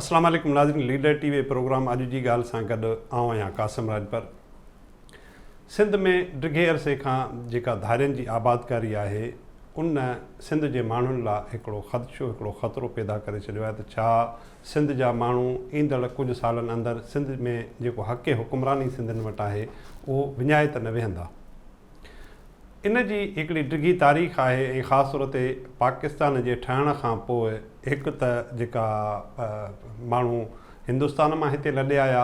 السلام عليڪم ناظرين ليڊر ٽي وي پروگرام اڄ جي ڳالهه سان گڏ آئون آهيان قاسم راڄپر سنڌ ۾ ڊگهي عرصي کان جيڪا ڌارين جي آبادڪاري آهي ان سنڌ جي ماڻهن لاء هڪڙو خدشو هڪڙو خطرو پيدا ڪري ڇڏيو آهي ته ڇا سنڌ جا ماڻهو ايندڙ ڪجهه سالن اندر سنڌ ۾ جيڪو حق حڪمراني سنڌين وٽ آهي اهو وڃائي ته نه ويهندا. ان جي هڪڙي ڊگهي تاريخ آهي ۽ خاص طور تي پاڪستان جي ٺهڻ کان پوء هڪ ته جيڪا ماڻهو هندستان مان هتي لڏي آيا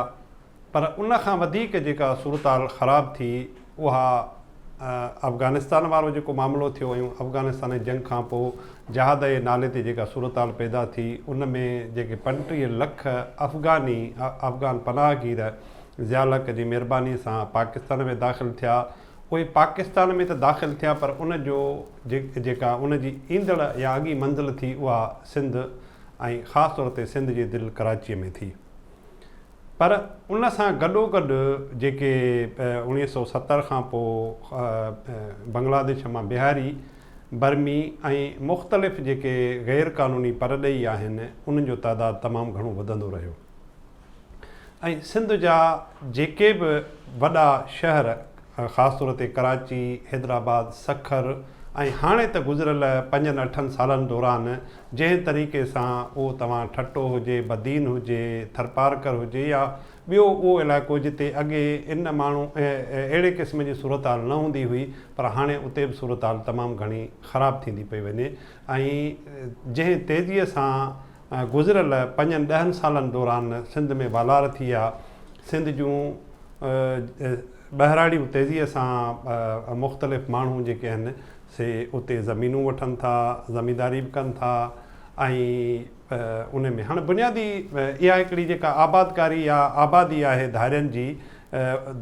پر ان کان وڌيڪ جيڪا صورتحال خراب ٿي اها افغانستان وارو جيڪو معاملو ٿيو ۽ افغانستان جي جنگ کان پوء جهاد جي نالي تي جيڪا صورتحال پيدا ٿي ان ۾ جيڪي پنٽيهه لک افغاني افغان پناهگير ضياء الحق جي مهرباني سان پاڪستان ۾ داخل ٿيا اهي پاڪستان ۾ ته داخل ٿيا پر ان جو جيڪا ان جي ايندڙ يا اڳي منزل ٿي اها سنڌ ۽ خاص طور تي سنڌ جي دل ڪراچي ۾ ٿي پر ان سان گڏوگڏ جيڪي اوڻيهه سؤ ستر کان پوء بنگلاديش مان بهاري، برمي ۽ مختلف جيڪي غير قانوني پرڏيهي آهن انهن جو تعداد تمام گهڻو وڌندو رهيو ۽ سنڌ جا جيڪي به وڏا شهر، خاص طور تي ڪراچي، حيدرآباد، سکر ۽ هاڻي ته گذريل پنجن اٺن سالن دوران جنهن طريقي سان اهو توهان ٺٽو هجي، بدين هجي، ٿرپارڪر هجي يا ٻيو اهو علائقو جتي اڳي ان ماڻهو اهڙي قسم جي صورتحال نه هوندي هئي پر هاڻي اتي به صورتحال تمام گهڻي خراب ٿيندي پئي وڃي ۽ جنهن تيزي سان گذريل پنجن ڏهن سالن دوران سنڌ ۾ والار ٿي آ سنڌ جون ٻهراڙيون تيزيء سان مختلف ماڻهو جيڪي آهن سي اتي زمينون وٺن ٿا زمينداري به ڪن ٿا ۽ ان ۾ هاڻي بنيادي اها هڪڙي جيڪا آبادڪاري يا آبادي آهي ڌارين جي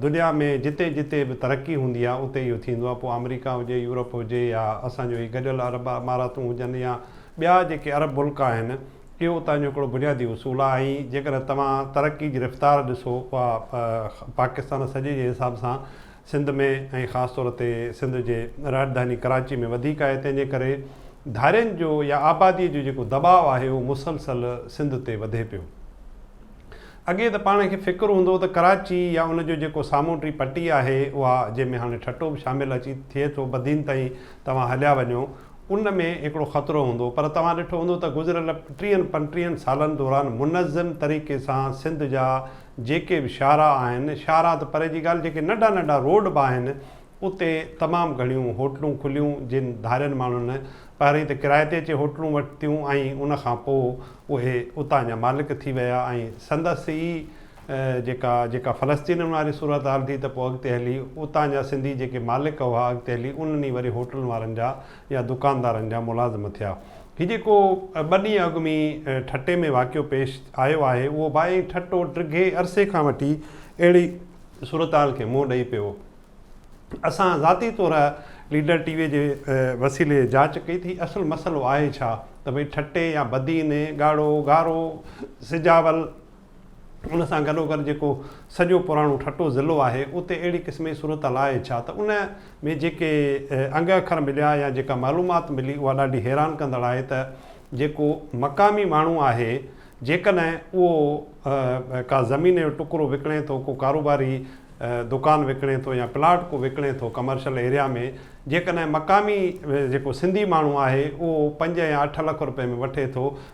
دنيا ۾ جتي جتي به ترقي هوندي آ اتي اهو ٿيندو آ پوء آمريڪا هجي يورپ هجي يا اسان جو هي گڏيل عرب اماراتون هجن يا ٻيا جيڪي عرب ملڪ آهن، اهو اتان جو هڪڙو بنيادي اصول آهي ۽ جيڪڏهن توهان ترقي جي رفتار ڏسو، اها پاڪستان سڄي جي حساب سان سنڌ ۾ ۽ خاص طور تي سنڌ جي راڄڌاني ڪراچي ۾ وڌيڪ آهي، تنهن جي ڪري ڌارين جو يا آباديء جو جيڪو دٻاء آهي، اهو مسلسل سنڌ تي وڌي پيو. اڳي ته پاڻ کي فڪر هوندو ته ڪراچي يا ان جو جيڪو سامونڊي پٽي آهي، اها جنهن ۾ هاڻي ٺٽو به شامل اچي ٿئي ٿو، بدين تائين توهان هليا وڃو، ان ۾ هڪڙو خطرو هوندو پر توهان ڏٺو هوندو ته گذريل ٽيهن پنٽيهن سالن دوران منظم طريقي سان سنڌ جا جيڪي به شاهراهه آهن، شاهراهه ته پري جي ڳالهه جيڪي ننڍا ننڍا روڊ به آهن اتي تمام گهڻيون هوٽلون کليون جن ڌارين ماڻهن پهرئين ته ڪرائي تي اچي هوٽلون ورتيون ۽ ان کان پوء اهي اتان جا مالڪ ٿي ويا ۽ سندس ئي جيڪا جيڪا فلسطينن واري صورتحال ٿي ته پوء اڳتي هلي اتان جا سنڌي جيڪي مالڪ هئا اڳتي هلي انهن ئي وري هوٽلن وارن جا يا دڪاندارن جا ملازم ٿيا. هي جيڪو ٻه ڏينهن اڳ ۾ ٺٽي ۾ واقعو پيش آيو آهي اهو به ائين ٺٽو ڊگهي عرصي کان وٺي اهڙي صورتحال کي منهن ڏئي پيو. اسان ذاتي طور ليڊر ٽي وي جي وسيلي جاچ ڪئي ٿي اصل مسئلو آهي ڇا ته ڀئي ٺٽي يا بدين، ڳاڙهو، گارو، سجاول، ان سان گڏوگڏ جيڪو سڄو پراڻو ٺٽو ضلعو آهي، اتي اهڙي قسم جي صورتحال آهي ڇا ته ان ۾ جيڪي انگ اکر مليا يا جيڪا معلومات ملي اها ڏاڍي حيران ڪندڙ آهي ته جيڪو مقامي ماڻهو آهي جيڪڏهن اهو ڪا زمين جو ٽڪرو وڪڻي ٿو ڪو ڪاروباري دڪان وڪڻي ٿو يا پلاٽ ڪو وڪڻي ٿو ڪمرشل ايريا ۾ جيڪڏهن مقامي جيڪو سنڌي ماڻهو آهي اهو پنج يا اٺ لک روپئي ۾ وٺي ٿو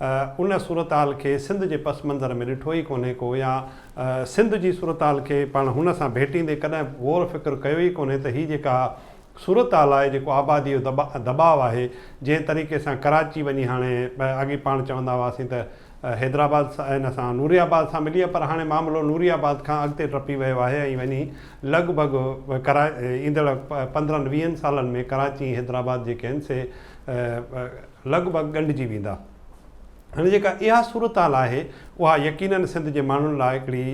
ان صورتحال کي سنڌ جي پس منظر ۾ ڏٺو ئي ڪونهي ڪو يا سنڌ جي صورتحال کي پاڻ هن سان ڀيٽيندي ڪڏهن غور فڪر ڪيو ئي ڪونهي ته هي جيڪا صورتحال آهي جيڪو آبادي جو دٻاء آهي جنهن طريقي سان ڪراچي وڃي هاڻي اڳي پاڻ چوندا هئاسين ته حيدرآباد ان سان نوري آباد سان ملي آهي پر هاڻي معاملو نوري آباد کان اڳتي ٽپي ويو آهي ۽ وڃي لڳ ڀڳ ايندڙ پندرهن ويهن سالن ۾ ڪراچي ۽ حيدرآباد جيڪي آهن سي لڳ ڀڳ ڳنڍجي ويندا. هاڻي جيڪا اها صورتحال آهي اها يقينن سنڌ جي ماڻهن لاء هڪڙي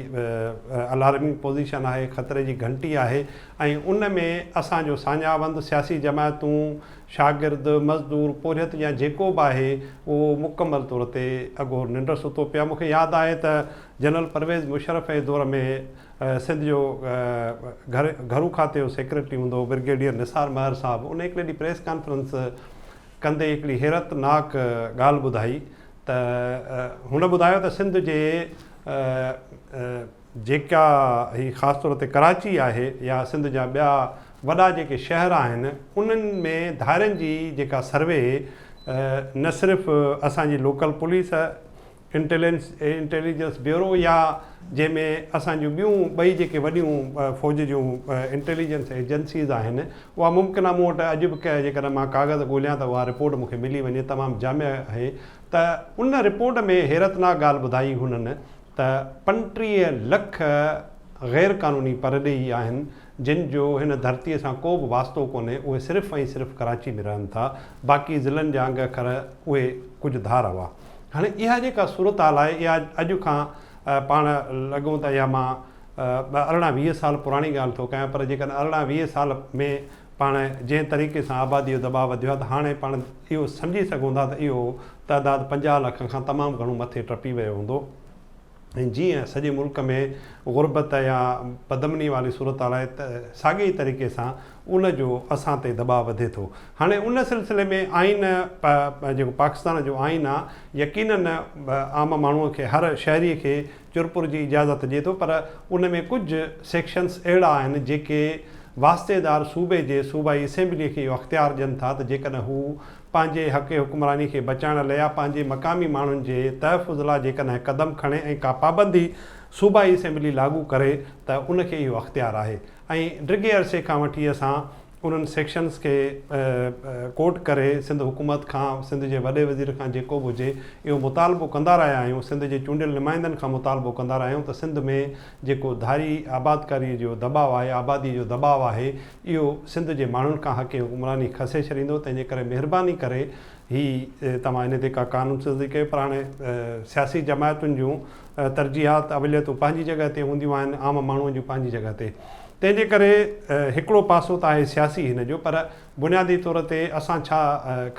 الارمنگ پوزيشن آهي، خطري جي گهنٽي آهي ۽ ان ۾ اسان جو ساڃاهوند، سياسي جماعتون، شاگرد، مزدور، پورهيت يا جيڪو به آهي اهو مڪمل طور تي اگهور ننڊ ستو پيو آهي. مون کي ياد آهي ته جنرل پرويز مشرف جي دور ۾ سنڌ جو گهرو کاتي جو سيڪريٽري هوندو هو برگيڊيئر نثار مهر صاحب ان هڪڙي ڏينهن پريس ڪانفرنس ڪندي هڪڙي حيرت ناڪ ڳالهه ٻڌائي ته هن ٻڌايو ته سنڌ جي جيڪا هي خاص طور تي ڪراچي آهي يا سنڌ جا ٻيا وڏا جيڪي شهر آهن انهن ۾ ڌارين جي جيڪا سروي نه صرف اسان جي local police intelligence ۽ intelligence bureau يا جنهن ۾ اسان جون ٻيون ٻئي جيڪي وڏيون فوج جون انٽيليجنس ايجنسيز آهن اها ممڪن مون وٽ اڄ به جيڪڏهن مان ڪاغذ ڳوليان ته اها رپورٽ مون کي ملي وڃي تمام جامع آهي ته ان رپورٽ ۾ حيرتناڪ ڳالهه ٻڌائي هنن ته پنٽيهه لک غير قانوني پرڏيهي آهن جن جو هن ڌرتي سان ڪو به واسطو ڪونهي اهي صرف ۽ صرف ڪراچي ۾ رهن ٿا باقي ضلعن جا انگ کر اهي ڪجهه ڌار هئا. هاڻي اها جيڪا صورتحال آهي اها اڄ کان پاڻ لڳون ته اها مان ارڙهن ويهه سال پراڻي ڳالهه ٿو ڪيان پر جيڪڏهن ارڙهن ويهه سال ۾ پاڻ جنهن طريقي سان آبادي جو دٻاء وڌيو آهي ته هاڻي پاڻ اهو سمجهي سگهون ٿا ته اهو تعداد پنجاهه لک کان تمام گهڻو مٿي ٽپي ويو هوندو. ۽ جيئن سڄي ملڪ ۾ غربت يا بدامني واري صورتحال آهي ته ساڳي ئي طريقي سان ان جو اسان تي دٻاء وڌي ٿو. هاڻي ان سلسلي ۾ آئين پ پ جيڪو پاڪستان جو آئين آ يقيناً عام ماڻهو کي هر شهري کي چرپر جي اجازت ڏئي ٿو پر ان ۾ ڪجهه سيڪشنس اهڙا آهن جيڪي واسطيدار صوبي جي صوبائي اسيمبلي کي اهو اختيار ڏين ٿا ته جيڪڏهن هو پنهنجي حق حڪمراني کي بچائڻ لئه يا پنهنجي مقامي ماڻهن جي تحفظ لاء جيڪڏهن قدم کڻي ۽ ڪا پابندي صوبائي اسيمبلي لاڳو ڪري ته ان کي اهو اختيار آهي ۽ ڊگهي عرصي کان وٺي اسان انهن سيڪشنز کي ڪوٽ ڪري سنڌ حڪومت کان سنڌ جي وڏي وزير کان جيڪو به هجي اهو مطالبو ڪندا رهيا آهيون سنڌ جي چونڊيل نمائندن کان مطالبو ڪندا رهيا آهيون ته سنڌ ۾ جيڪو ڌاري آبادڪاري جو دٻاء آهي آبادي جو دٻاء آهي اهو سنڌ جي ماڻهن کان حق حڪمراني کسي ڇڏيندو تنهن جي ڪري مهرباني ڪري هي توهان ان تي ڪا قانون سازي ڪيو پر هاڻي سياسي جماعتن جون ترجيحات اوليتون پنهنجي جڳهه تي هونديون آهن عام ماڻهو جون پنهنجي جڳهه تي تنهن جي ڪري هڪڙو پاسو ته آهي سياسي هن جو پر بنيادي طور تي اسان ڇا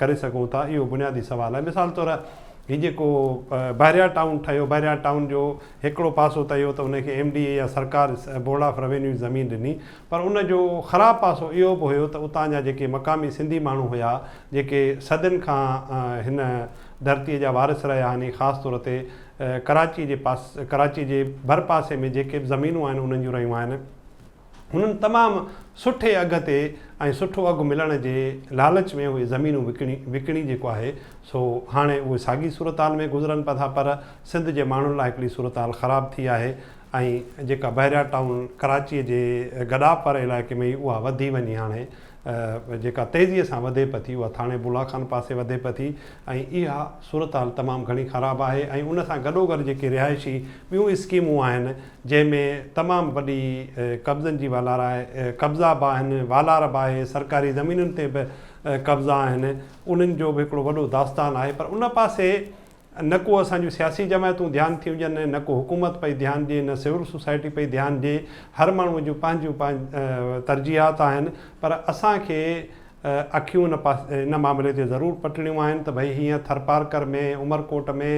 ڪري سگهون ٿا اهو بنيادي سوال آهي مثال طور هي جيڪو بحريا ٽائون ٺهيو بحريا ٽائون جو هڪڙو پاسو ته اهو ته ان کي ايم ڊي اي يا سرڪار بورڊ آف روينيو زمين ڏني پر ان جو خراب پاسو اهو به هيو ته اتان جا جيڪي مقامي سنڌي ماڻهو هيا، جيڪي صدين کان هن ڌرتيء جا وارث رهيا آهن ۽ خاص طور تي ڪراچيء جي پاس ڪراچيء جي ڀر پاسي ۾ جيڪي به زمينون آهن انهن جون رهيون آهن، هنن تمام سٺي اگهه تي ۽ سٺو اگهه ملڻ جي لالچ ۾ اهي زمينون وڪڻي وڪڻي جيڪو آهي سو هاڻي اهي ساڳي صورتحال ۾ گذرن پئا ٿا پر سنڌ جي ماڻهن لاء هڪڙي صورتحال خراب ٿي آهي. ۽ جيڪا بحريا ٽائون ڪراچيء جي گڏاپر علائقي ۾ هئي، اها وڌي وڃي هاڻي جيڪا تيزيء سان وڌي پتي، اها ٿاڻي بولا خان پاسي وڌي پتي ۽ اها صورتحال تمام گهڻي خراب آهي ۽ ان سان گڏوگڏ جيڪي رهائشي ٻيون اسڪيمون آهن، جنهن ۾ تمام وڏي قبضن جي والار آهي، قبضا به آهن، والار به آهي، سرڪاري زمينن تي به قبضا آهن، انهن جو به هڪڙو وڏو داستان آهي، پر ان پاسي نه ڪو اسان جون سياسي جماعتون ڌيان ٿيون ڏين ۽ نه ڪو حڪومت پئي ڌيان ڏئي نه سول سوسائٽي پئي ڌيان ڏئي هر ماڻهو جون پنهنجون ترجيحات آهن پر اسان کي اکيون ان معاملي تي ضرور پٽڻيون آهن ته ڀئي هيئن ٿرپارڪر ۾ عمرڪوٽ ۾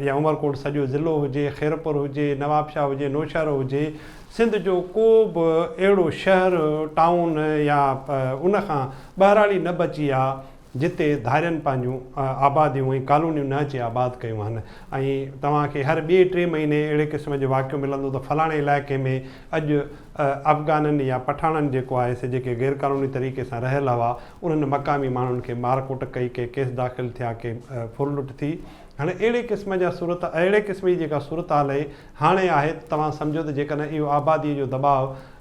يا عمرڪوٽ سڄو ضلعو هجي خيرپور هجي نوابشاهه هجي نوشهرو هجي سنڌ جو ڪو به اهڙو شهر ٽائون يا ان کان ٻهراڙي نه بچي آ جتي ڌارين پنهنجون آباديون ۽ ڪالونيون نه اچي آباد ڪيون هن ۽ توهان کي هر ٻئي ٽئين مهيني اهڙي قسم جو واقعو ملندو ته فلاڻي علائقي ۾ اڄ افغانن يا پٺاڻن جيڪو آهي سي جيڪي غير قانوني طريقي سان رهيل هوا انهن مقامي ماڻهن کي مار ڪٽ ڪئي ڪي ڪيس داخل ٿيا ڪي ڦر لٽ ٿي هاڻي اهڙي قسم جا صورت اهڙي قسم جي جيڪا صورتحال هاڻي آهي ته توهان سمجهو ته جيڪڏهن اهو آبادي جو دٻاء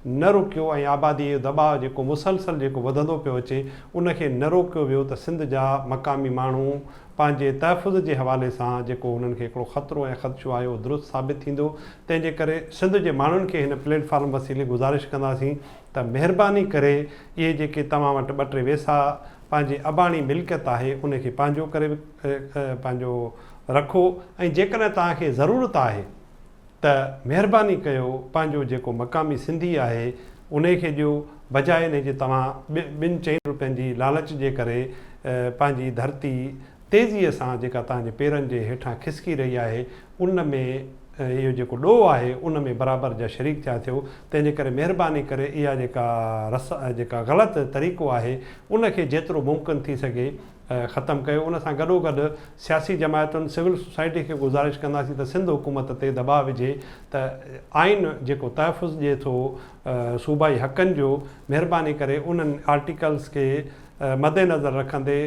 نه روڪيو ۽ آباديء جو دٻاء جيڪو مسلسل جيڪو وڌندو پيو اچي ان کي نه روڪيو ويو ته سنڌ جا مقامي ماڻهو پنهنجي تحفظ جي حوالي سان جيڪو هنن کي هڪڙو خطرو ۽ خدشو آهي اهو درست ثابت ٿيندو تنهن جي ڪري سنڌ جي ماڻهن کي هن پليٽ فارم وسيلي گذارش ڪنداسين ته مهرباني ڪري اهي جيڪي توهان وٽ ٻه ٽي ويسا پنهنجي اباڻي ملڪيت آهي ان کي پنهنجو ڪري پنهنجو رکو ۽ جيڪڏهن توهان کي ضرورت آهي ته مهرباني ڪيو پنهنجو جيڪو مقامي سنڌي آهي انهي کي ڏيو بجاء انهي جي توهان ٻن چئن روپين جي لالچ جي ڪري پنهنجي ڌرتي تيزي سان جيڪا توهان جي پيرن جي هيٺان کسڪي رهي آهي ان ۾ اهو جيڪو ڏوهه آهي ان ۾ برابر جا شريڪ ٿيا ٿيو تنهن جي ڪري مهرباني ڪري اها جيڪا جيڪا غلط طريقو آهي ان کي جيترو ممڪن ٿي سگهي ختم ڪيو ان سان گڏوگڏ سياسي جماعتن سول سوسائٽي کي گذارش ڪنداسين ته سنڌ حڪومت تي دٻاء وجهي ته آئين جيڪو تحفظ ڏئي ٿو صوبائي حقن جو مهرباني ڪري انهن آرٽيڪلز کي مدنظر رکندي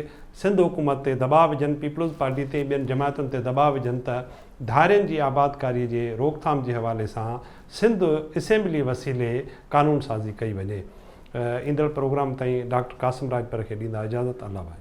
سنڌ حڪومت تي دٻاء وجهن پيپلز پارٽي تي ٻين جماعتن تي دٻاء وجهن ته ڌارين جي آبادڪاري جي روڪٿام جي حوالي سان سنڌ اسيمبلي وسيلي قانون سازي ڪئي وڃي. ايندڙ پروگرام تائين ڊاڪٽر قاسم راڄپر کي ڏيندا اجازت الله ڀائي.